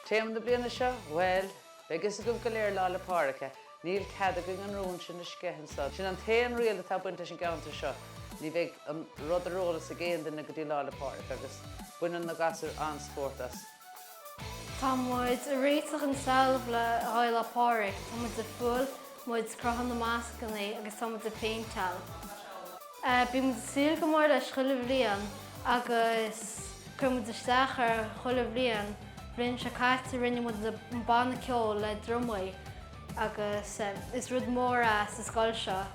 Téama na bliana seo? Bhuel, beidh fhios agaibh go léir Lá 'le Pádraig, eh? Níl cead againn an rún sin a sceitheadh. Sin an t-aon riail atá ag baint sa gceantar seo, ní bheidh an rud ar eolas ag aon duine go dtí Lá 'le Pádraig agus baineann na gasúir an-spórt as. Tá muid ag réiteach an trealamh le haghaidh Lá 'le Pádraig, tá muid ag fuáil, muid ag cruthú na mascannaí agus tá muid ag péinteáil. Bíonn muid ag súil go mór leis chuile bhliain agus cuireann muid isteach air chuile bhliain. Bhliain seo caite rinne muid an banna ceoil le drumaí agus is rud mór é sa scoil seo.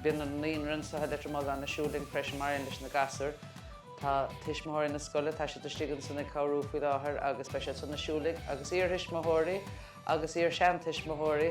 Bíonn an naíonra anseo i Leitir Mealláin ag siúl linn freisin mar aon leis na gasúir. Tá tuismitheoirí na scoile, tá siad istigh ansin ag cabhrú faoi láthair agus beidh siadsan ag siúl linn, agus iarthuismitheoirí agus iar seantuismitheoirí.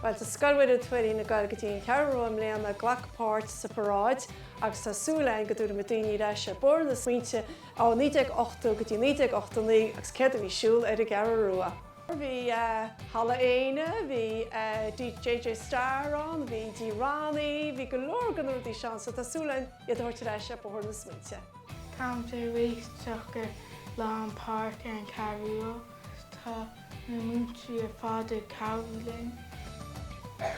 Bhuel, tá Scoil Mhuire Tuairín ag goil go dtí an Cheathrú Rua i mbliana ag glacadh páirt sa pharáid agus tá súil againn go dtabharfaimid daoine ar ais ar bhóthar na smaointe ó 1980 go dtí 1989 agus céard a bhí ar siúl ar an gCeathrú Rua. Bhí Halla Éinne, bhí DJ Star ann, bhí Dee Ronnie, bhí go leor de na rudaí seo ann so tá súil againn iad a thabhairt ar ais ar bhóthar na smaointe. Tá muid ag réiteach i gcomhair Lá 'le Pádraig ar an gCeathrú Rua, tá na múinteoirí ar fad ag cabhrú linn.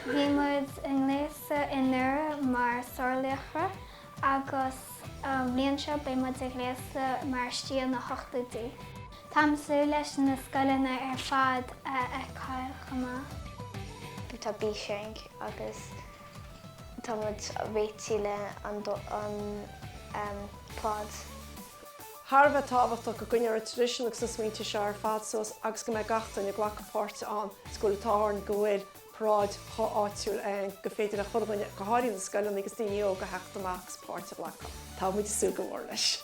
Bhí muid ag gléasadh anuraidh mar sárlaochra agus an bhliain seo beidh muid ag gléasadh mar stíl na n-ochtóidí. Táim ag súil leis na scoileanna ar fad a fheiceáil chomh maith. Tá Bishank agus tá muid ag réiteach an float. Thar a bheith tábhachtach go gcoinneoir an traidisiún agus na smaointe seo ar fad suas agus go mbeidh gach duine ag glacadh páirte ann. Is go bhfuil an t-ádh orainn go bhfuil paráid chomh áitiúil gur féidir le chuile dhuine, go háirithe na scoileanna agus daoine óga, a theacht amach agus páirt a ghlacadh. Tá muid ag súil go mór leis.